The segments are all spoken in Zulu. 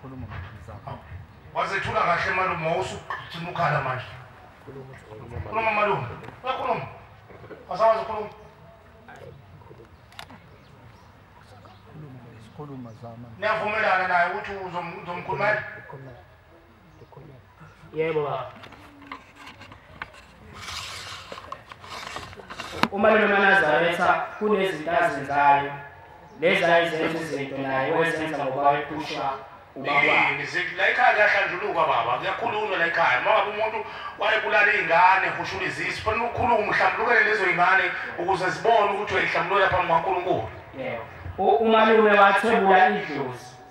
Khuluma mfana. Wazethula kahle malume wawusugcina ukhala manje. Khuluma malume. Uyakhuluma. Wasawazi ukhuluma. Khuluma zama. Niyavumelana naye ukuthi uzomkhulumela? yebo baba uma lomanazaretha kunezinto azenzayo lezi ayezenza izinto naye wezenza ngoba wayephushwa la ikhaya kuyahlanjulukwa baba kuyakhulunywa la ikhaya uma ngabe umuntu wayebulala iy'ngane hushula izisu fanele ukhulume umhlambulukele lezo y'ngane ukuze zibone ukuthi uyayihlambulukela phambi kwankulunkulu umalume wathwebula idlozi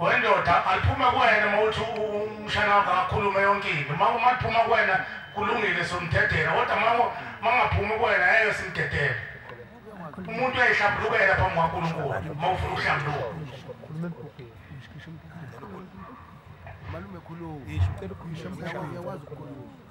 wendoda aliphume kuwena uma uthi umshana wakho akhulume yonke into uma uma liphuma kuwena kulungile somdedela kodwa uma uma ngaphumi kuwena ngeke simdedele umuntu uyayihlambulukela phambi kwankulunkulu uma ufuna ukuhlambuluka malume khuluma uyawazi ukukhuluma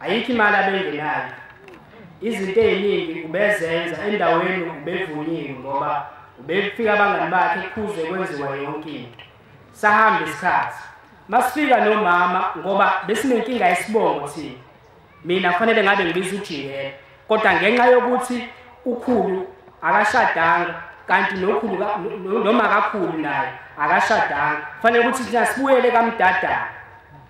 ayikho imali abengenayo izinto eziningi ubezenza endaweni ubevunyiwe ngoba ubefika abangani bakhe kuze kwenziwa yonke into sahamba isikhathi masifika nomama ngoba besinenkinga yesibongo thina mina kufanele ngabe ngibiza ujikela kodwa ngenxa yokuthi ukhulu akashadanga kanti nokhulu noma kakhulu naye akashadanga kufanele ukuthi thina sibuyele kamdadana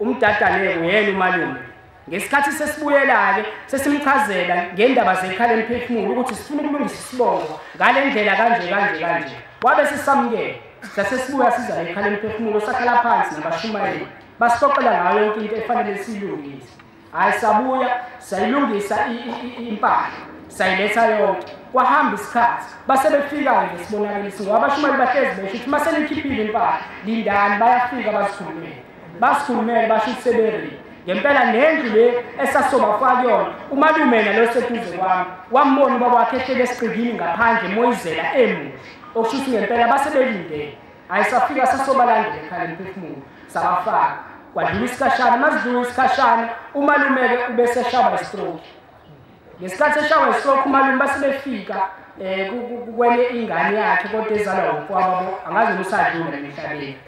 umdadane-ke uyena umalume ngesikhathi sesibuyela-ke sesimchazela ngendaba zekhala emphefumulo ukuthi sifuna ukulungisa isibongo ngale ndlela kanje kanje kanje wabe sisamukela sasesibuya siza lekhala emphefumulo sakhala phansi nabashumayeli basixoxela ngayo yonke into efanele siyilungise hhayi sabuya sayilungisa impahla sayiletha yonke kwahamba isikhathi base befika-ke ngesibonakaliso ngoba abashumali bahlezi besho ukuthi uma senikhiphile impahla lindani bayafika bazikhulumele basikhulumele basho ukuthi seberili ngempela nendlu le esasobafaka kuyona umalume nalo seduze kwami wambona ubaba wakhe ehlele esiqikini ngaphandle moyizela emuhle okusho ukuthi ngempela base belindele Hayi safika sasobalandela ekhaya emphefumulo sabafaka kwadlula isikhashana masidlula isikhashana umalumeke ubeseshawa istroke ngesikhathi eshawa istroke umalume basebefika um kwenye ingane yakhe kodwa ezalwa ukwababo angazi usadlula emhlabeni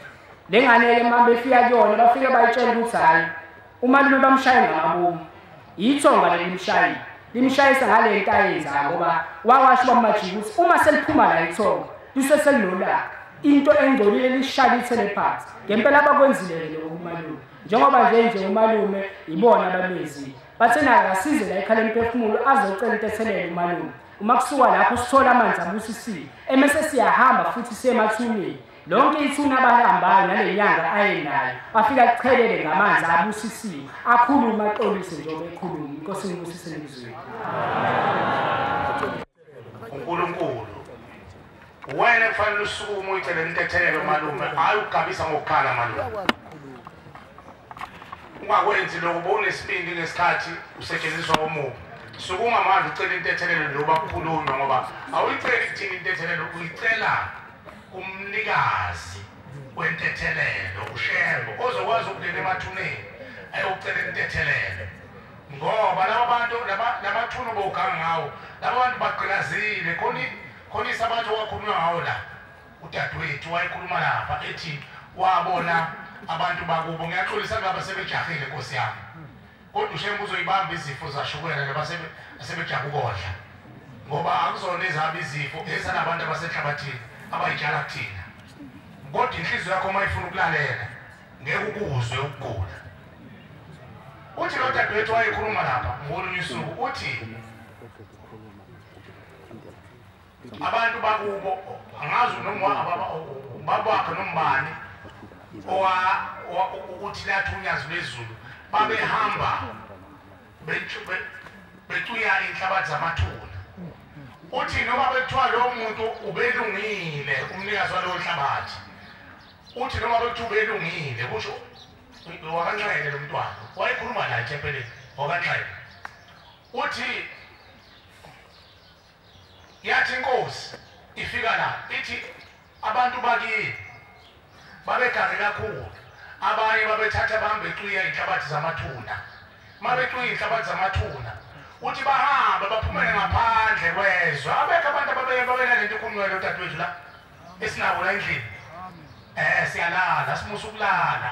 le ngane-ke uma befika kuyona bafike bayitshela ukuthi hhayi Umalume bamshaye ngamabomu. Yithonga lelimshayi. Limshayisa ngale nto ayenza ngoba wawasho bamajika ukuthi uma seliphuma la ithonga lise selinolaka into engcolile lishaya ithele phansi. Ngempela abakwenzile lokho kumalume. Njengoba nje nje umalume ibona abamezile. Bathe naye asize la ekhala emphefumulo azocela into ethelele umalume. Uma kusuka lapho sithola amanzi abusisiwe emese siyahamba futhi siye emathuneni Lonke ithuna abalihambayo nale nyanga ayenayo afika kuchelele ngamanzi abusisiwe akhulume axolise njengoba ekhuluma inkosi ngibusise ngizweni uNkulunkulu wena kufanele usukume uyicele intethelelo malume hayi ukugabisa ngokukhala malume ungakwenzi lokho bowunesibindi ngesikhathi usetshenziswa omubi suke ungamandla ucela intethelelo njengoba kukhulunywa ngoba awuyiceli kuthini intethelelo uyicela umnikazi wentethelelo ushembo ozokwazi ukungena emathuneni ayocela intethelelo ngoba laba bantu namathuna obowuganga ngawo laba bantu bagqilazile khona isabathi owakhulunywa ngawo la udadewethu wayekhuluma lapha ethi wabona abantu bakubo ngiyaxolisa ngaba sebejahile nkosi yami Kodwa uShembe uzoyibamba izifo zashukela nabasebe asebejabu kodla. Ngoba akuzona ezihamba izifo ezanabantu abasenhlabathini abayitshala kuthina. Kodwa inhliziyo yakho uma ifuna ukulalela ngeke ukuzwe ukugula. Uthi lo dadewethu wayekhuluma lapha ngolunye usuku uthi abantu bakubo angazi noma babakhe nombani ukuthi lathi unyazi lwezulu babehamba becuya inhlabathi zamathuna uthi noma bekuthiwa lowo muntu ubelungile umnikazi walowo nhlabathi uthi noma bekuthiwa ubelungile kusho wakanxele lo mntwana wayekhuluma naye thempeleni wakanxele uthi Yathi inkosi ifika la ithi abantu bakini babegare kakhulu abanye babethatha bambe ixwiya inhlabathi zamathuna mabexwiya inhlabathi zamathuna uthi bahambe baphumele ngaphandle kwezwe abekho abantu ababelalento ikhulunywayo odadewethu la esinabo la endlini um siyalala simusa ukulala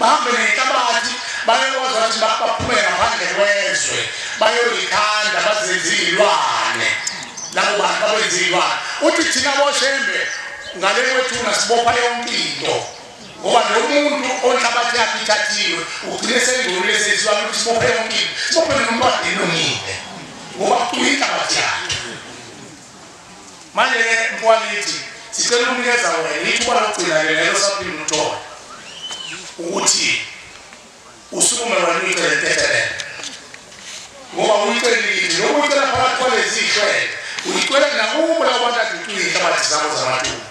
Bahambe nenhlabathi bayokwazi ukuthi baphume ngaphandle kwezwe bayoyikhanda bazenze iy'lwane labo bantu babenze iy'lwane uthi thina boshembe ngale kwethuna sibopha yonke into ngoba lo muntu onhlabathi yakhe ithathiwe ugcine sengcolile senziwa ukuthi sibophe yonke into sibophe nomntwana elungile ngoba kuyinhlabathi yakhe manje ke mkwalithi sicela ukunikeza wena ithuba lokugcina ke lelo saphinde uthole ukuthi usukume wena uyicele tetelele ngoba uyicelile nokuyicela phakathi kwalezi hlwele uyicela nakubo labo bantu aducile inhlabathi zabo zamathuba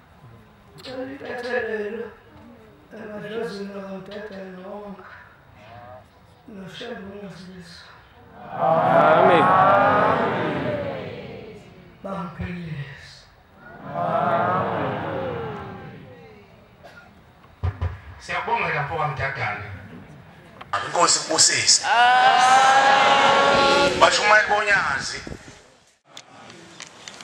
Ngicela ibethelelo emadlozini lomdede nonke noshembe ungasilisa. Amen. Bamphilise. Amen. Siyabonga lapho kamdadane. Inkosi kubusise. Amen. Bashumayela bonyazi.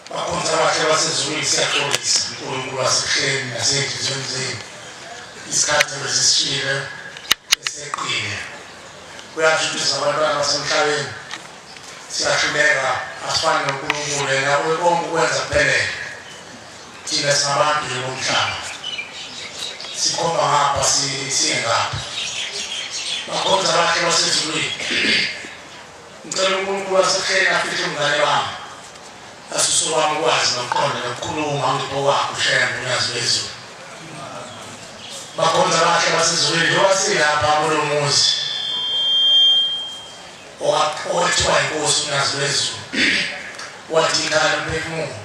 Bakhonza abahle basezulwini siyaxolisa uNkulunkulu wasekuhleni nasezinhliziyweni zenu isikhathi besisishile eseqile kuyashutisa abantwana basemhlabeni siyahluleka asifane noNkulunkulu yena uyekonke ukwenza kuphelele thina singabantu nje bomhlaba sikhomba ngapha siye ngapha bakhonza abahle basezulwini Ngicela uNkulunkulu wasehleni afihle umngane wami asuse wami ukwazi nokuqonda nokukhuluma ngipho wakho ushaya nolwazi lwezulu bakhonza bakhe basezulwini lowasilapha kulo muzi owathiwa inkosi unazi lwezulu wathi ikhala umphefumulo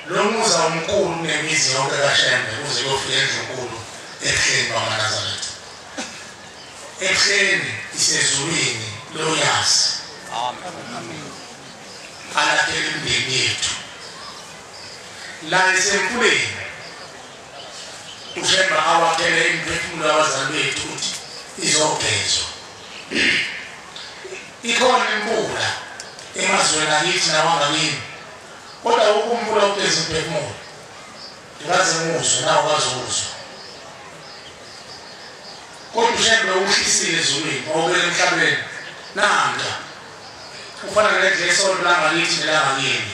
lo muzi awumkhulu kunemizi yonke kashembe uze kuyofika endlunkulu ebuhleni bamanazaretha Ekuseni isezulwini loyazi. Amen. Alakhele imindeni yethu. La isemfuleni. Ushemba awakhele imiphefumulo yabazali bethu ukuthi izogezwa. Ikhona imvula emazweni akithi nawangakini. Kodwa ukumvula ugeza imphefumulo. Ngaze ngizwe nawe wazozwa. Kodwa uShembe uwushisile ezulwini wawubeka emhlabeni. Nanda. Ufana nendle yesonto langakithi nelangakini.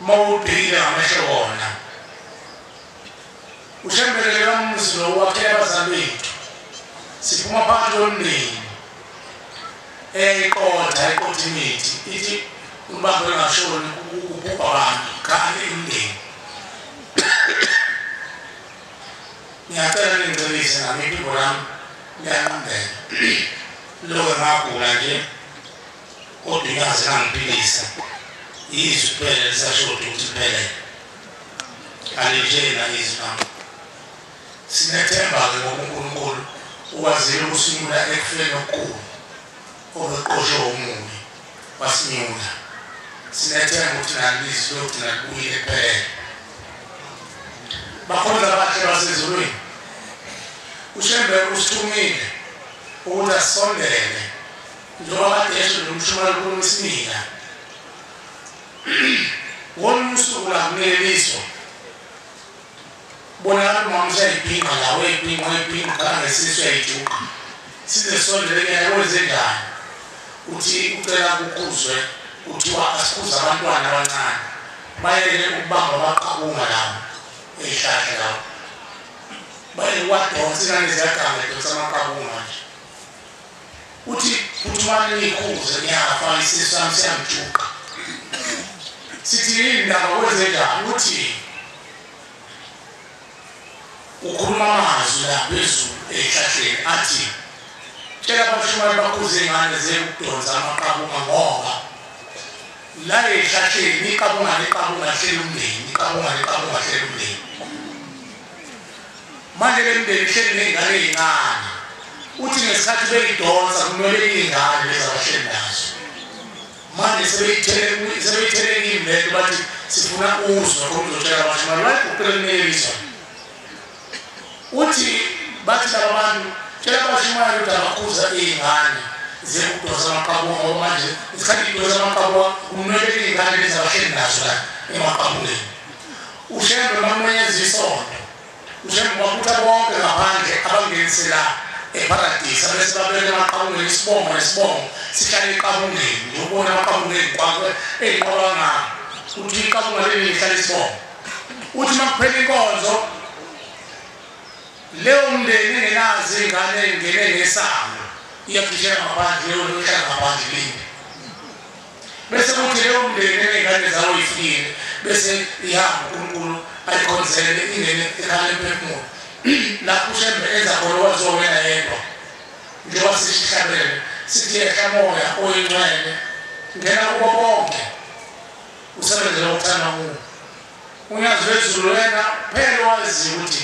Uma ubhekile ngamehlo wona. UShembe lele kamuzi lo wakhe abazali bethu. Siphuma phakathi kwemndeni. Eyayiqotha iqotha imithi ithi umbambo engashoni kubhubha abantu kanti imndeni ngiyacela ningicebise nami iphimbo lami liyanqambela loke ngagula nje kodwa ingaze kangiphilisa yizwi kuphela lisashoda ukuthi kuphelele alintsheni nangizwi lami sinethemba-ke ngokunkulunkulu ukwazile ukusimula ekufeni okukhulu Kodwa uqoshwe omubi wasinyula. Sinethemba ukuthi nalilizwi logcina libuyile kuphelele. Bakhonza abahle basezulwini. UShembe usithumile ukuthi asondele njengoba kade esho nomshumela ukhuluma isimila. Ngolunye usuku la kuneleliswa Kubonakala umama useyayibhinqa la, wayibhinqa, wayibhinqa, uqala ngesisu uyayijuqa. Size sisondele kuyena, kwenzenjani? Uthi ucela kukhuzwe, kuthiwa asikhuze abantwana abancane. Bayele ukubamba amaqabunga lawo, eyihlahla lawo. Bayele uwadonsa, ingane ziyaganga, idonsa amaqabunga nje. Uthi phuthumani niyikhuze, ngiyafa, isisu sami siyangijuqa. Sithi yini ndaba, kwenzenjani? Uthini? ukhuluma amazwi la phezulu ehlahleni athi tshela abashumane bakhuze ingane zeyokudonsa amaqabunga ngoba la ehlahleni iqabunga neqabunga hlela umndeni iqabunga neqabunga hlela umndeni manje le mndeni ihleli ney'ngane ey'ncane uthi ngesikhathi beyidonsa kumele iy'ngane lezabahleli nazo manje sebeyithelekile sebeyithelekile lento bathi sifuna uzwa khona uzotshela abantu manje bayiguqele kuneyelizwa uthi bathi laba bantu tshela abashumayeli ukuthi abakhuza iy'ngane ziyekudosa amaqabunga ngoba manje isikhathi idosa amaqabunga kumele iy'ngane lezi abahleli nazo la emaqabungeni ushembe makumenyeza isonto njengoba kutha bonke ngaphandle abangenisela eparadisa bese babeke amaqabunga isibongo nesibongo sihlale eqabungeni ngiyobona amaqabunga eziqwakwe eziqwabanga ukuthi iqabunga leli lihlale isibongo uthi uma kuphela inkonzo leyo mndeni engenazi ingane ingene ngesango iyakhishela ngaphandle leyo nhlangaphandle lini bese kuthi leyo mndeni eney'ngane zawo ifikile bese ihamba unkulunkulu ayikhonzele ingene ekhala emphefumulo lapho ushembe enza khona owazowena yedwa njengoba sisihlabele sithi yehla moya oyingcwele ngena kubo bonke usebenzela ukuthanda kuwo unyazi lwezulu wena phela wazi ukuthi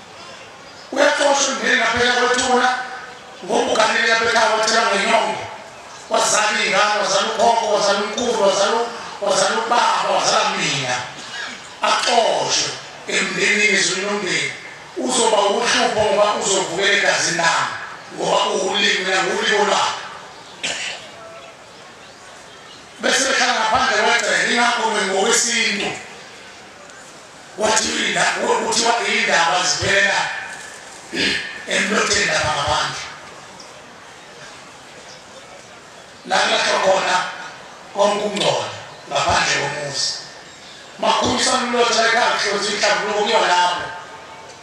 uyaxoshwa ngeni ngaphela kwethuna ngobukanele yabekhaya wathela ngenyongo wazala iy'ngane wazala ukhokho wazala umkhulu wazala ubaba wazala mina axoshwe emndenini ezweni lomndeni uzoba uhlupho ngoba uzovukela egazini lami ngoba uwulimi mina nguwulimo lwakhe bese behlala ngaphandle kwegcele ingakho ngokwesintu Kuthiwa iy'ndaba ziphelela emlotheni lapha ngaphandle lakulahlwa khona konke ukungcola ngaphandle komuzi makhulisa umlotha ekhaya kuhlonza inhlambuluko kuyona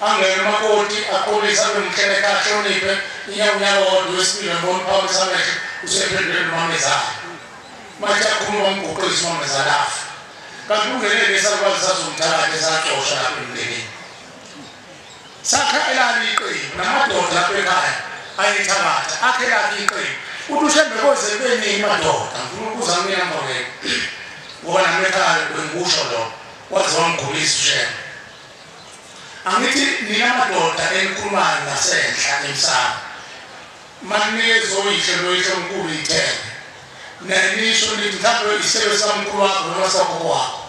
Angene umakoti aqolise abe mkheleka ahloniphe inyawo unyawo wodwa wesibili ambona uphakamisa amehlo usephendule nomamezala. Mathi akhuluma wamguqisa umamezala afa. Kanti kungenele lesalukazi sazomthakatha esaxosha lapha emndenini. Sakha elali iqembu namadoda lapha ekhaya ayethabatha akhe lakhe iqembu. Uthi ushembe koze kube ningi madoda ngifuna ukubuza mina mfowethu. Ngoba nami ekhaya bengikusho lokho waze wangigulisa ushembe. Angithi nina madoda enikhulumayo ngasenhla emsamo maninikeza oyihlo noyihlo omkhulu ithembe nanisho nithi mhlawumbe isebe sikamkhulu wakho noma sikagogo wakho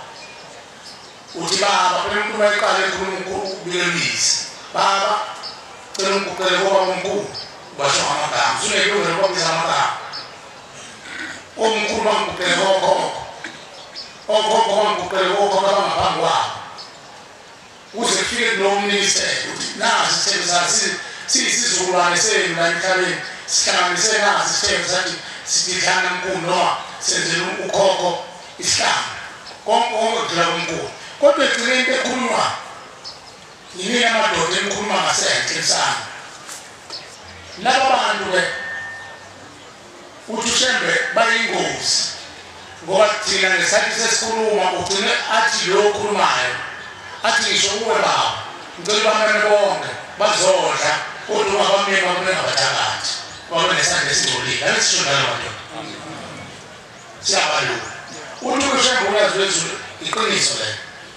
uthi baba phela umkhulu wayeqale ekhuluma ukulemizi baba cela ungiguqele koba omkhulu basho ngamagama usunekulungelo kwabiza amagama omkhulu bangiguqele kokhokho okhokho bangiqoqele kokhokho abangaphambi kwabo kuze kufike kunomnise ukuthi nazi isithembu sathi siyisizukulwane senu la emhlabeni sihlanganise nazi isithembu sathi sididlana mkhulu noma senzela ukhokho isihlanga konke konke kudlula kumkhulu kodwa egcine into ekhulunywa yimina amadoda enikhuluma ngasenhle sana laba bantu-ke Uthi uShembe bayingozi ngoba thina ngesikhathi sesikhuluma ugcine athi lo okhulumayo athi ngisho kuwe baba ngicela ubamane bonke bazodla kodwa ungabamyeni bakulengabathakathi babe nesandla esingcolile ake sisho njalo madoda siyabalula uthi uShembe uyazi wezulu iqiniso lelo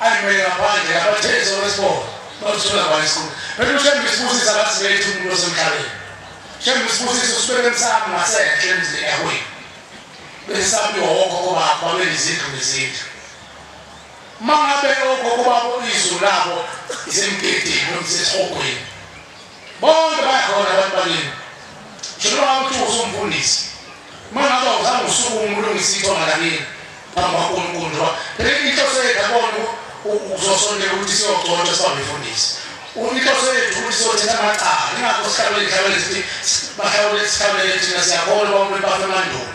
ayimele ngaphandle abathezi okwesibona bazithola kwani isibuko bese ushembe isibusisa ngathi bethu umuntu osemhlabeni shembe isibusisa usibeke emsamo ngasenhle emzini yahwini bese sabiwa wogogo bakho babelizindlu nezindlu uma ngabe ogogo babo izulu labo zimgidini nomsesihogweni Bonke bayakhona abantu balimi. Ngisho noma uthi usumfundisi. Uma ngabe awuzange usukume ulungise ithonga lakini phambi kwaNkulunkulu njengoba phela inhloso yethu abona ukuzosondela ukuthi siyogcotshwa siba ngifundisi. Inhloso yethu ukuthi siyothetha amacala. Ingakho sihlawule ihlawule sithi bahlawule sihlawule thina siyakholwa umuntu bafe emandulo.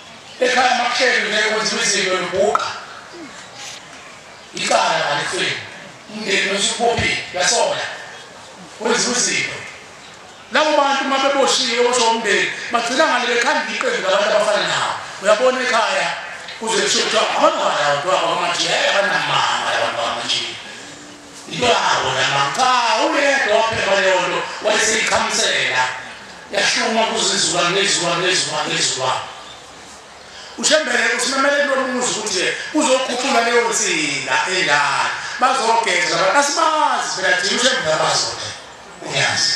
Ekhaya makuhleli ngeke kwenziwe izinto lubhuqa. Icala ngalifeni. Umndeni nosukubophile yasola. Kwenziwe izinto. Labo bantu uma beboshiwe osho umndeni bagcina ngale bekhanda iqembu labantu abafana nawo. Uyabona ekhaya kuze kusho kuthiwa abantwana abantu abamanje abanamanga abantu abamanje. Yabo lama cha uyedwa waphepha leyo nto wayeseyiqhamisela yashuma kuzizuka ngezuka ngezuka ngezuka ushembele usimemele kulo muzi ukuthi uzokhuphula leyo nsinga endala bazogeza abantu asibazi phela thina ushembele abazoda uyazi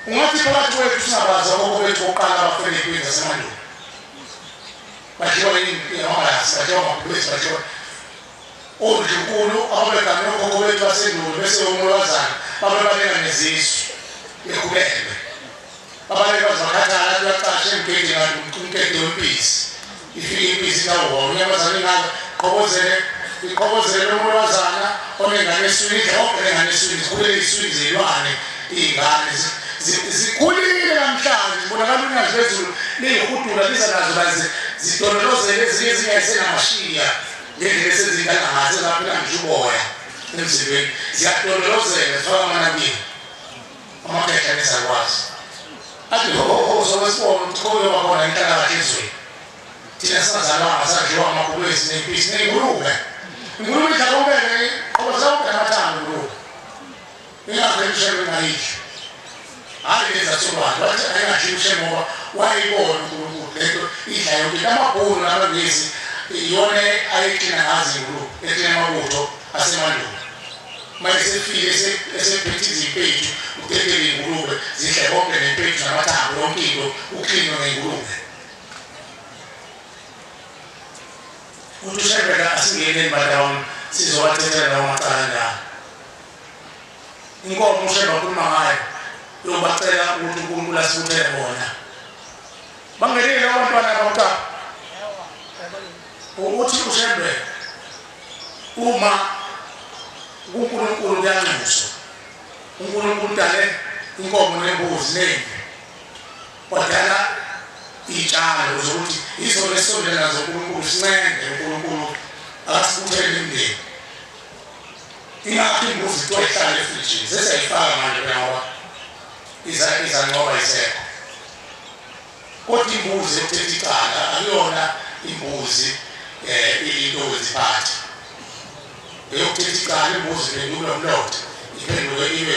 ungathi phakathi kwethu singabazi aboko bethu bokuqala abafele kwini zasemandulo badliwa yini amabasi badliwa amabhubesi badliwa Ondlunkulu ababeganwe okhokho bethu basendulo bese omolwazana babebaleka nezizwe bekhubelwe. Babaleka baze bakhathala athi uyacasha emgedeni kanti umqede wempisi. Ifike impisi nawona unyamazane ingaka qhokozele iqhokozele lomolwazana onengane eswini idlobhe lengane eswini zikhulele iswini zilwane iy'ngane zikhulile namhlanje zibonakala unyazi lezulu liyihudula liza nazo baze zidondolozele ezinye ezingayisenamashiya Ngendlela esezintangamathe zaphela ngisho uboya emzimbeni ziyadondolozeka zifaka amanabile amakhehla nezakwazi athi sowesibona ukuthi kobe wakhona inhlalakahle ezweni thina singazalwanga sadliwa amabhubesi nempisi ney'ngulube ingulube idlala umbele qoba zawubheka amathambo ingulube Ingakho emshelo ngayidla. Hayi leza sobani wathi ayingadli umshelo ngoba wayibona uNkulunkulu lento idla yonke amabhulu namangezi iyona ayigcina ngazi inkulu ekhina amabutho asemandulo manje sefike esephethe izimpethu uphethele ingulube zidle konke nempethu namathambo yonke into uklinwe ngengulube uthi ushebela asingeneni badawona sizowathethela lawo macala njalo inkomo ushembe akhuluma ngayo yobacela ukuthi unkulunkulu asibuthele bona bangenile abantwana abamcaba ukuthi ushembe uma unkulunkulu kuyanxuswa unkulunkulu udale inkomo nembuzi nembi wadala iy'tshalo zokuthi izona esisondela zonkulunkulu sincenge unkulunkulu akasibuthele imndeni ingakho imbuzi kuthiwa ihlale efrijini sesiyayifaka manje phela ngoba izanqoba isekho kodwa imbuzi ekuthetha icala akuyona imbuzi um eh, into weziphathi eyokuthetha icala imbuzi iphenduke umlotha iphenduke ibe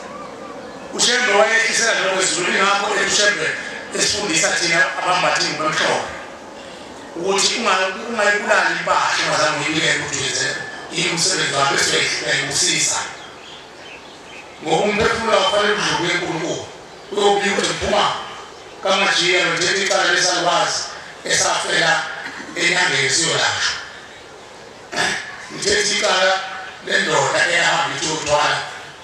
ushembe wayehlisela lokho ezulu ingakho ushembe esifundisa thina abambathi ngomhlophe ukuthi ungayibulali impahla ungazange uyibulele uduze imsebenzi wakho esiyoyibusisa ngoba umphefumulo wakufanele udluke enkulunkulu uyobika ukuthi ngiphuma kamajiya nothetha icala lesalukwazi esafela enyangeni siyolashwa ngithetha icala lendoda eyahamba ithi uthwala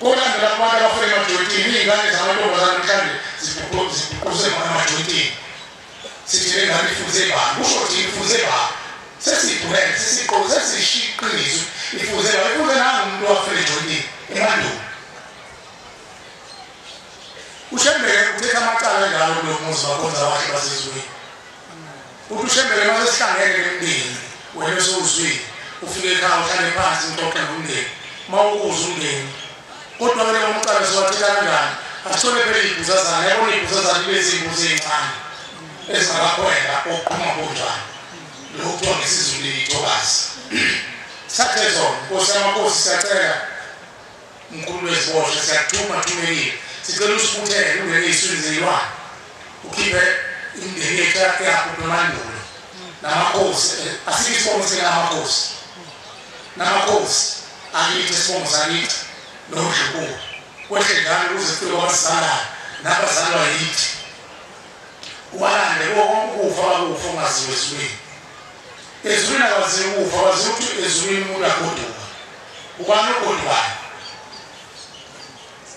Kulandela abantu abafuna emajoyintini, iy'ngane zamantombazane mhlawumbe zibhuquzwe khona emajoyintini. Sithi le ngane ifunze bani, kusho ukuthi ifunze bani. Sesibhulele, sesiqo, sesishiqinizwe, ifunze bani, ifunze nangu umuntu owafuna ejoyintini, emandulo. Ushembeke uthetha amacala njalo kulo muzi wakhonza wahle basezweni. uthi ushembele uma sesihlangene nemndeni wena usuzwile ufike ekhaya uhlale phansi ngixoxe nomndeni uma ukuza umndeni kodwa ke leyo mcala siwathetha kanjani asithole phela iy'buzazana yabona iy'buzazana ibe ziy'buza ey'ncane ezingakakhwela okuqhuma kunjani lokhu kuthiwa ngesizulu liyithokazi sathe zona nkosi yamakhosi siyacela Mkhulu wezibosha siyakuthuma thumekile sicela usibuthele ungene iswini zilwane ukhiphe imindeni yethu yakho nomandulo namakhosi asithi isibongo sinamakhosi namakhosi akithi isibongo sakithi nodlukuko kwehle njalo ukuze kufike kwabazalayo nabazalwa yithi ubalande ukufa bakufa ungaziwe ezulwini ezulwini akwaziwa ukufa waziwa ukuthi ezulwini umuntu agoduka Ubani ubhuti bani?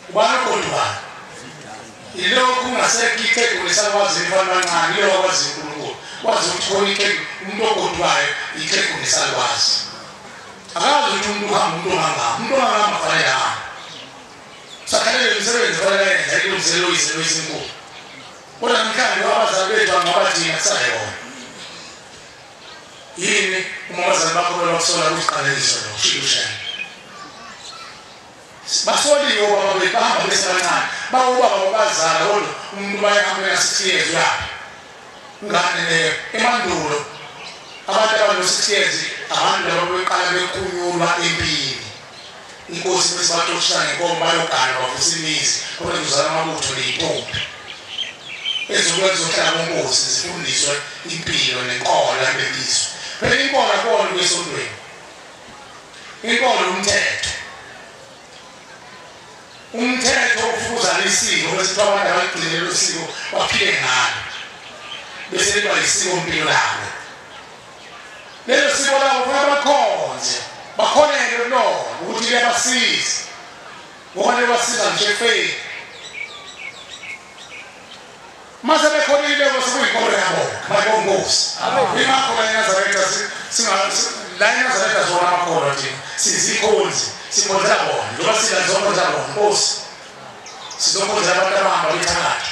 Ubani ubhuti bani? Ilokhu ungasekho iqembu lesakwazi mfana kancane ilokhu akwazi uNkulunkulu. Wazi ukuthi khona iqembu umuntu ogodwayo iqembu lesakwazi. Akazi ukuthi umuntu uhamba umuntu ohamba, umuntu ohamba amafanele hamba. Sakhalele imisebenzi fanele yenza ilungiselo izinto ezinkulu. Kodwa namhlanje abazali bethu angabathina kusayona. yini uma abazali bakho bebakusola kuyiqaleliswa lo shiyushana basoliwe baba bethu bahamba besebancane bawobaba babazala kodwa umuntu bayahambela sixty years uyaphi ngane leyo emandulo abantu abano-sixty years abantu laba beqala bekunyulwa empini inkosi bese baxoshana ngenkomo bayogana bavusa imizi kodwa kuzala amabutho ney'ntombi ezokwenza zohlala konkosi zifundiswe impilo nenkolo yamebizwe phela inkolo akona kwesontweni inkolo umthetho umthetho ufuzana isiko bese kuthiwa abantu abaligcinele usiko baphile ngalo bese liba yisiko mpilo labo lelo siko labo kufanele bakhonze bakhonele kulona ukuthi liyabasiza ngoba liyabasiza ngisho ekufeni mase bekhonile bose kuyinkolo yabo bayibongosi imakhola enazaretha la enazaretha zona amakholwa thina sizikhonzi sikhonzela bona njengoba sila zonke zabona nkosi sizokhonzela abantu abahamba bethakatha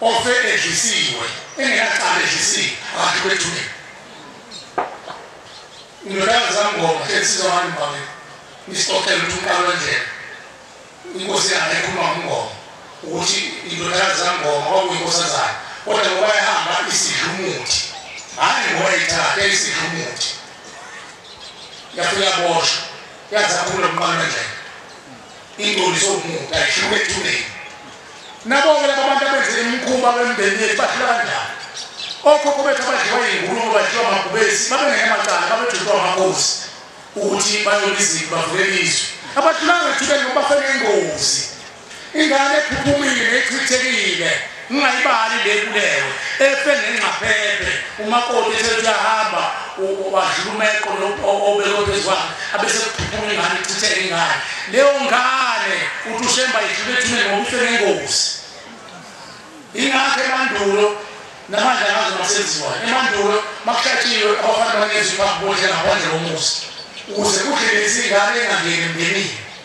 Ofe edlisiwe engenacala edlisiwe abantu bethule. Indodana zamngoma sensizwa ngani mbabe. Nisixoxele ukuthi umqalo wendlela. Inkosi yakhe ekhuluma ngomngoma ukuthi indodana zamngoma kwakuyinkosazana kodwa ngoba ehamba isidlumuthi hayi ngoba ithathe isidlumuthi yafika boshwa yazaphula umqalo wendlela Ingcoliso yomuntu ayishuke ethuneni. Nabo-ke laba bantu abenze imikhuba kwemindeni yethu bahlula kanjani? Okhokho bethu abadliwa iy'nkulumo badliwa amabhubesi babengeke amacala babejutwa amakhosi ukuthi bayona izinto bavulele izwe. Abahlulanga ethuneni ngoba bafene ingozi. Ingane ephuphumile nechithekile. Ungayibali le nkuleko efe ngengxaphephe umakoti ethe uyahamba wadlula umeqo obekwe phezu kwakhe abesekuphuphuma ingane ichitheke ingane leyo ngane uthi ushemba idlule ethuneni ngoba ife ngengozi ingakho emandulo namanje angazi masenziwayo emandulo makuhlatshiwe abafana banezwi phambi bodlela ngaphandle komuzi ukuze kudlelezi ingane engangeni emndenini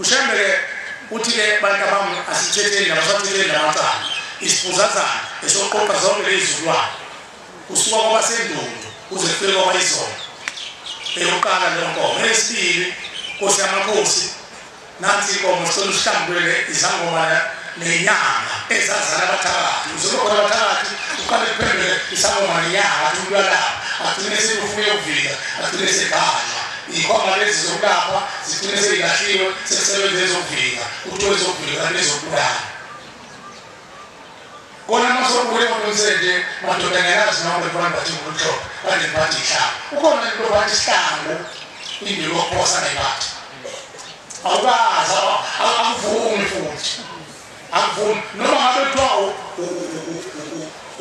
UShembe-ke uthi-ke bantabami asithetheni nabasathetheni namacala isibhuzazana esoqoqa zonke lezizukulwane kusuka kwabasendundu kuze kufike kwabayizona eyokuqala leyo nkomo eyesibili nkosi yamakhosi nansi inkomo sicela usihlambulele izangoma nenyanga ezazala abathakathi uzobakhona abathakathi uqale kuphendule isangoma nenyanga athi umntwanabo agcine sekufuna ukuvika agcine sekhaya Ikhomba lezi zokulapha zigcine seyilahliwe sekusebenza ezokuvika kuthiwa ezokuvika kanti ezokubulala kona masokule ngokunsenje madoda ngelazi noma bekubantu bathi nguluhlobo kanti ngibathi ihlanga ukhona into bathi isihlangu into yokuphosa ngayibathi awukazi akuvumi futhi akuvumi noma ngabe kuthiwa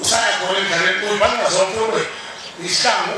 usaya khona emdlalweni uyibangazonkuluwe isihlangu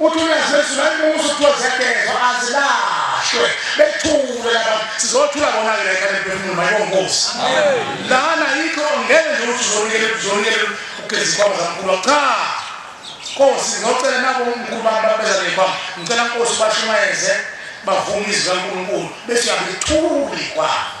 uthi uyazezula imusa kuthiwa ziyagezwa azilahlwe bethule abantu sizothula bona-ke la ekhanda emphefumulo mayibonkosi lana yikho ngeke nje ukuthi uzonikele uzonikele ugeza ikhwama zamkhulu cha nkosi ngocela nabo umkhulu bami babeza nekhwama ngicela nkosi bashumayeze bavume izwi kankulunkulu bese uyabe lithuli kwabo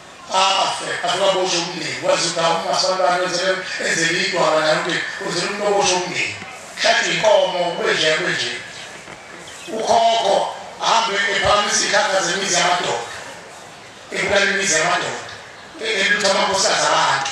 afe asekaboshe umndeni kwazi ukuthi awumasabantwana wenzele enzele idwala naye umndeni wenzele umuntu oboshe umndeni hlathe inkomo kwenje kwenje ukhokho ahambe ephakamisa ikhakha zemizi yamadoda ebulala imizi yamadoda elutha amakhosikazi abantu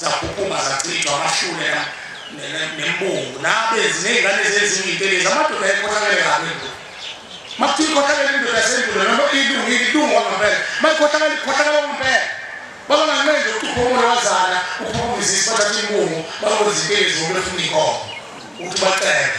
Zaphuphuma zachithwa amashule nembungu nabenzi ney'ngane ezenziwa intelezi amadoda ayekhohlakele kabi ngoku makuthiwa ikhohlakele indoda yasendulo noma ilungile ilungu wangampela mayikhohlakele ikhohlakele wangampela babanganqenje ukuthi uphumule wazana uphumulizisi bathatha imbungu bakwenza intelezi ngoba befuna inkomo ukuthi bacele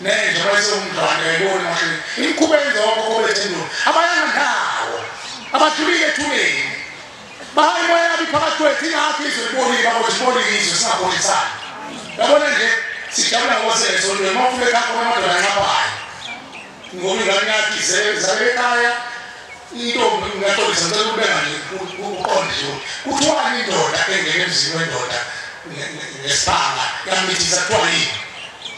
Nenja bayisomdlwane yayibona mashini. Imkhuba yenza okhokho bethu endulo. Abayanga ndawo. Abadlulile ethuneni. Bahayi moya yabi phakathi kwethu ingakho izwe libonile babothi libonile izwe singabongisana. Yabona nje sijabula ngoba sesonto noma ufike ekhaya khona amadoda anqabayo. Ngoba ingane yakhe izale ekhaya intombi ngaxolisa ngicela ukubeka nje uqonde nje kuthiwani indoda engene emzini wendoda ngesibanga yamithisa kuthiwa yini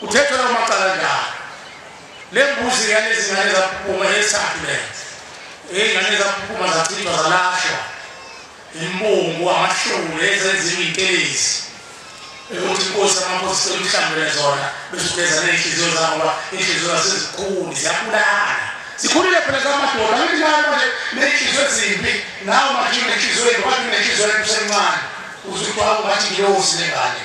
Uthethwe lawo macala njalo. Le mbuzi yalezi zingane zaphuma yesakhe lezi. Izingane zaphuma zachithwa zalashwa. Imbungu amahlulu ezenziwa intelezi. ukuthi inkosi amakhosi seluhlambele zona besugeza ney'nhliziyo zabo ngoba iy'nhliziyo zasezikhuni ziyabulala zikhulile phela zamadoda angithi nayo manje ney'nhliziyo ezimbi nawo manje unenhliziyo embi wathi unenhliziyo embi usemncane uze kuthiwa ungathi ngiyosi lengane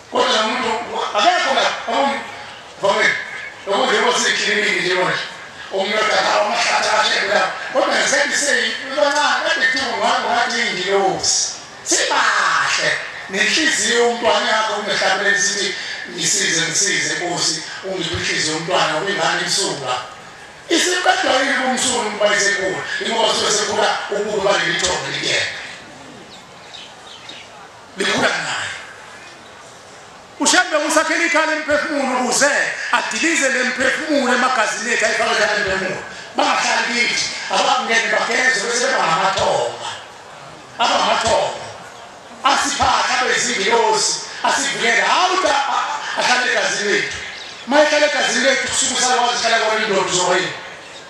Kodwa la muntu akekho la vame lokhu njengoba sikliningi nje manje umnotho akawa amahlathi ashekula kodwa ngisethi seyibancane kade kuthiwa ngwangu ngathi iyingilosi sibahle nenhliziyo umntwana yakho ungehlabeleni sithi ngisize ngisize nkosi ungiphe inhliziyo umntwana ubingane imsulwa isiqedwa yini kumsulu ukuba isekhula ingoba sosekhula ububi balelithombe likuyena likhula naye ushembe usakhela ikhala emphefumulo ukuze adilize le mphefumulo emagazini ethu ayifake khala emphefumulo bangahlali kithi abangene bageze bese bebangamathonga abangamathonga asiphathe abezingilosi asivikele hawu ahlale egazini lethu uma ehlale egazini lethu kusuke usakwazi hlala kwalindoda uzoyini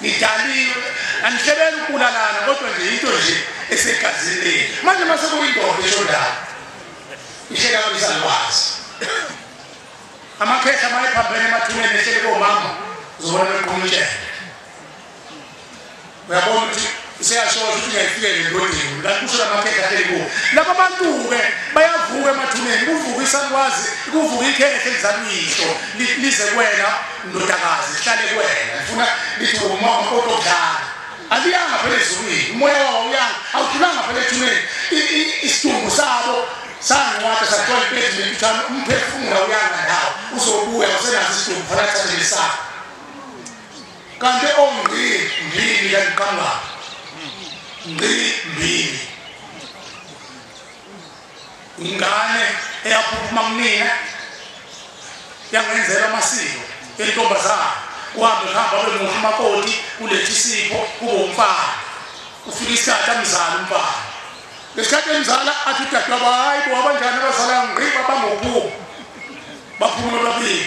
ngidaliwe angihlebeli ukubulalana kodwa nje into nje esegazini leni manje uma sekuyindoda eshondayo ihleka kabisalwazi amakhehla uma ephambene emathuneni ehlele komama zobona bequmutshela uyabona ukuthi useyashoza ukuthi ngiyayifikela endodeni kanti kusho lamakhehla ahleli kuwo laba bantu-ke bayavuka emathuneni kuvuka isakwazi kuvuka ikhehla elizaluyihlo lize kuwena ndodakazi lihlale kuwena lifuna lithi umama kodwa okudlala aliyanga phela ezulwini umoya wawo uyanga awudlulanga phela ethuneni isidumbu sabo sangiwathi sathola impethu nentuthane umphefumulo uyanga ndawo uzobuya usenazo isidumbu fanathathe lesabo kanti ongqi mbili yaqamba ngqi mbili ingane eyaphuma kunina yangenzela amasiko entombazana kuhambe kuhamba abe muhle umakoti kuletha isipho kube umfana ufika isikhathi amzala umfana ngesikhathi emzala athi udadewabo hayi bo abanjani abazala ngqi babangobuu baphumula babili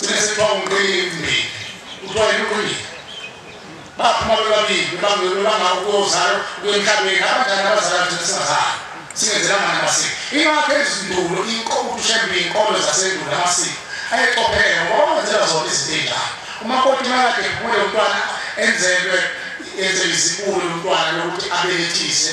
Sine sitwa umqimbi. Utwa yini Baphuma bebabili bangelo bangakuzalo kwemhlabeni abadala abazala thina singazali. Singenzela ngani amasiko. Ingakho izindulo inkomo ushembe inkolo zasendulo amasiko. Ayeqophele ngoba wenzela zona izinto enjalo. Uma kodwa imali yakhe kumele umntwana enzelwe enzelwe izibulo umntwana lokuthi abelethise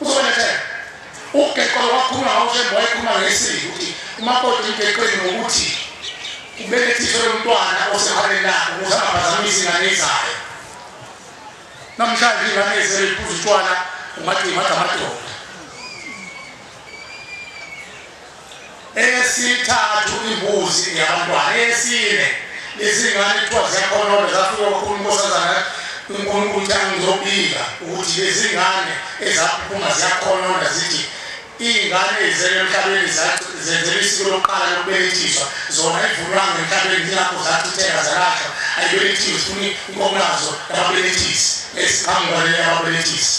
Usolethe ugeqo wakhuluma ngawushemba wayekhuluma ngesizwe ukuthi umakoti ugeqweni ngokuthi ubelethise lomntwana osehaleni lakho ukuze angaphazamisi ingane ezayo namhlanje ingane ezele iphuza utshwala ungathi imathi amadoda eyesithathu imbuzi yabantwana eyesine izingane kuthiwa ziyakhonona zafika kwakhulu inkosazana unkulunkulu uthi angizobika ukuthi lezingane ezaphuma ziyakhonona zithi iy'ngane ezele emhlabeni zenzela isiko lokuqala lokubelethiswa zona ivulwanga emhlabeni yilapho zachitheka zalahlwa ayibelethiwe funi inkomo lazo lababelethisi esiqhamuka leli ababelethisi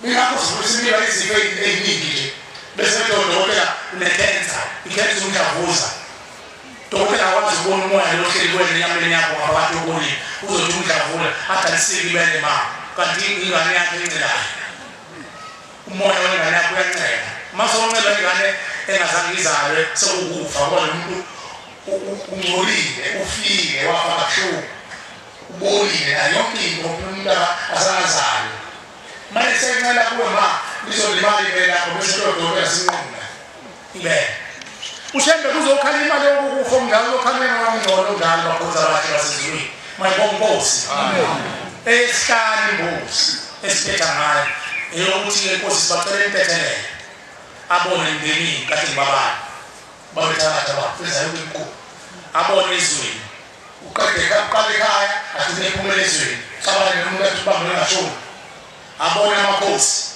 Mina kuzulisa impilo izifo eziningi nje bese kuthi odokotela unekhensa ikhensa umdlavuza dokotela akwazi ukubona umoya lohleli kwena enyameni yakho ngabantu okunye uzothi umdlavula adalisile ibele ma kanti ingane yakhe encelayo umoya wengane yakho uyancela uma sewuncela ingane engazange izalwe sekukufa kodwa umuntu ungcolile ufile wafa kabuhlungu Ubolile na yonke into umntana asangazalwa. Manje sencela kuwe ma lizolimali ibele lakho bese kuyodokotela yasinquma ibele. Ushembe kuzokhala imali yokukufa umngane lokhalweni wamngcono ngalo bakhoza bakhe basezulwini. Mayibonga inkosi. Amen. Esihlanu inkosi esiphetha ngayo eyokuthi ke inkosi sibacela intethelele abone ngenini kathi ngibabani babethatha bafeza yonke inkulu abone izweni uqede aqale ekhaya agcine ephumele ezweni cabanga nje umuntu athi ubambe longashoni abone amakhosi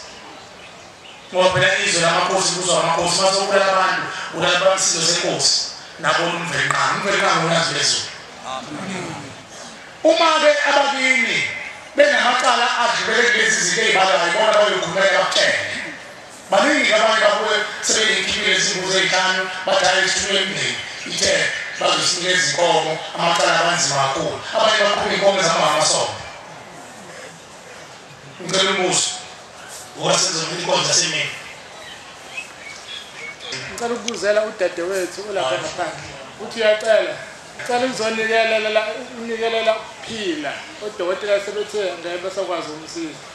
ngoba phela izwe lamakhosi kuzwa amakhosi uma sokubulala abantu ulala bamsizo senkosi nabona umvelinqanga umvelinqanga unazi lezulu uma-ke abakini benamacala adlulele kulezi zinto ey'balwayo bona bayokhulumela bakutshele Baningi-ke abanye babuye sebenenkimbi ezimbuzi ezihlanu badala isithunywa emndeni ithe bazosinika izinkomo amacala abanzima kakhulu abanye baqhuba inkomo ezamahamasomo ngicela umbuso ngoba senzela inkonzo yasemini ngicela ukubuzela udadewethu olapha ngaphandle uthi uyacela cela ukuzonikelela unikelela ukuphila odokotela sebethe ngeke besakwazi ukumsiza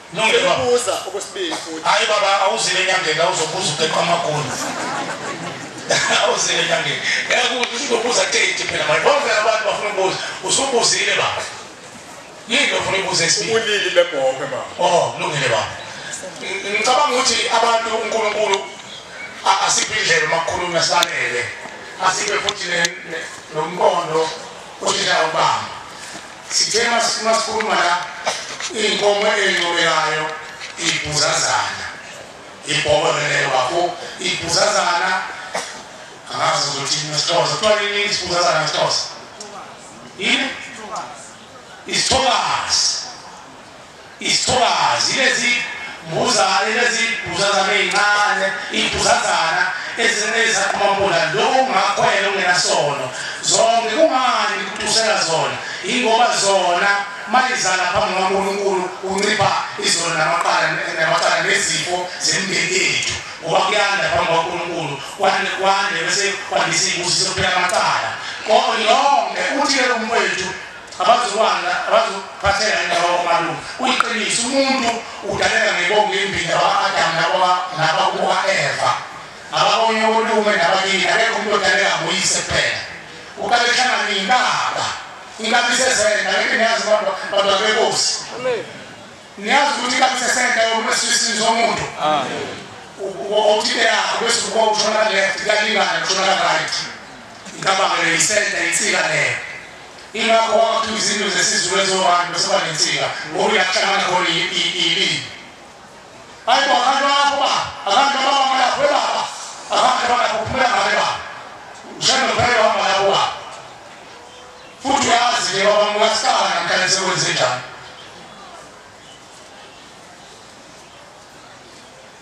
Ngibuza okwesibili futhi. Hayi baba awuzile enyangeni awuzobuza uqeqa amagoli. Awuzile enyangeni. Yakuthi uzobuza tete phela manje. Bonke abantu bafuna ukubuza. Usubuzile baba. Yini ofuna ukubuza isibili? Ubulili bebhoke baba. Oh, lungile baba. Ngicabanga ukuthi abantu uNkulunkulu asiphe indlela makhuluma sanele. Asiphe futhi nombono uthi la ubamba. Sithe masikhuluma la inkomo encomekayo ibhuzazana ibhobo lele wakho ibhuzazana angazi ukuthi nesixhosa kuthiwa yini isibhuzazana nesixhosa yini isithokazi Isithokazi, Lezi mbuzane, lezi bhuzazana ezincane, ibhuzazana, ezincane ezisaqhuma umbola, lokho kungakhwela okungenasono. Zonke, kungani ngikutusela zona? Yingoba zona, uma izala phambi kukaNkulunkulu, kuncipha izono namaqala, namacala nezifo zemindeni yethu. Ngoba kuyanda phambi kukaNkulunkulu, kwande, kwande, bese kwandisa izibusiso kuphela amacala. Kodwa yonke, uthi-ke umfowethu, Abazokwanda abazophatheka indawo omalume. Uyiqiniso umuntu udaleka ngebongo imbida wa-Adamu nabakuka-Eva. Ababonye olume nabakini akekho umuntu odaleka nguyise kuphela. Uqale kuhlangana inkaba. Inkaba isesenda ngeke niyazi abantu abantu babekosi. Niyazi ukuthi inkaba isesenda yomuntu esisini somuntu. Ukuthi yakho bese ubuka ushona left kalingana ushona right. Inkaba ngeke isenda insika leyo. Ingakho kwakhiwa izindlu zesiZulu ezobantu bese kuba nensika ngoba uyahlangana khona ilimi. Hayi bo abantu bakho ba, abantu bababa lapho bebaba, abantu balapho kuphela ngabe ba. Ushaya nophela wahamba lapho ba. Futhi uyazi ke baba mukasana namhlanje sekwenze njani.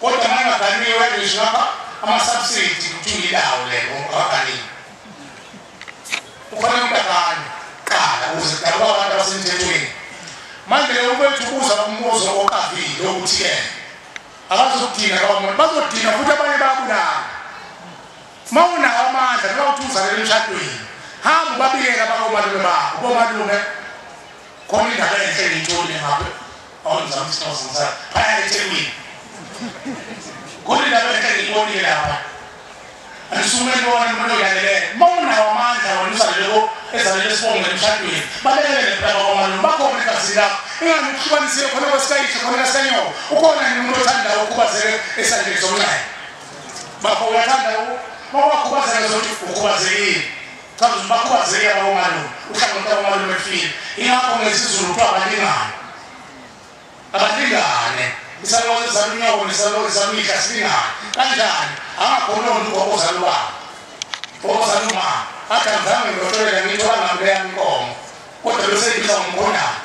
Kodwa manje baganiwe wena ngisho ngapha ama subsidy kuthula ilawo lelo abaganiwe. Ukhona umntagani qala ukuze kudalwa abantu abasemthethweni. Manje leyo kwethu ubuza umbuzo oqavile ukuthi ke abazodina kwamuntu bazodina futhi abanye bayabulala. Mawunawo amandla noma uthi uzalele emshadweni hamba ubabikela bakomalume bakho komalume khona indaba enhle ngiyithole ngapha Awunza msinozi msana. Phaya eThekwini. Kodwa indaba enhle ngiyibonile lapha. Anisukume nibona umuntu oyanele. Mawunawo amandla wena usaleleko ezalele sibonge emshadweni. Balekele nempela kwamalo bakhona igazi lakho. Ingani ukuhlukanisile khona kwasikayisho khona kasanyoka. Ukhona nini umuntu othanda ukhubazeke esandleni somnxaye? Bafo uyathanda ukhubazeke zokuthi ukhubazekile. Cha nje bakhubazeke abomalume uhlangothi abomalume efile ingakho ngesizulu kuthiwa abalingane abalingane isalowo sizala unyoko nesalowo sizala umihla silingane kanjani angakhona umuntu ozala ubaba ozala umama athi angizange ngiyotolela ngiyitholanga mle yami inkomo kodwa besengibiza ngomkhondana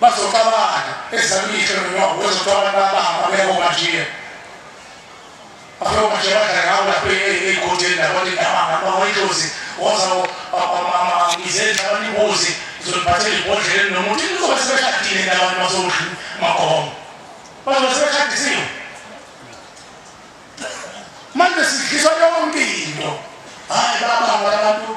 bazoxabana ezizala umihla nonyoko bezothiwa abantu babanga babeko bajiye Bafuna ukuthi badla ngawo lapho egodini lapho indaba ngaba wayidlozi woza izenhla abanimbuzi izoliphathela ibhodleni nomuntu izobe sebeshadile nabantu basohlu magomo bazobe sebeshadisiwe manje sidliswa yonke into hayi babanga abantu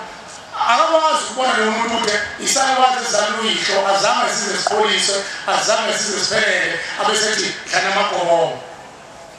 akakwazi ukubona lo muntu ukuthi isakwazi ezizalwa uyihlo azange size sikhuliswe azange size siphelele abesethi dlana amagomo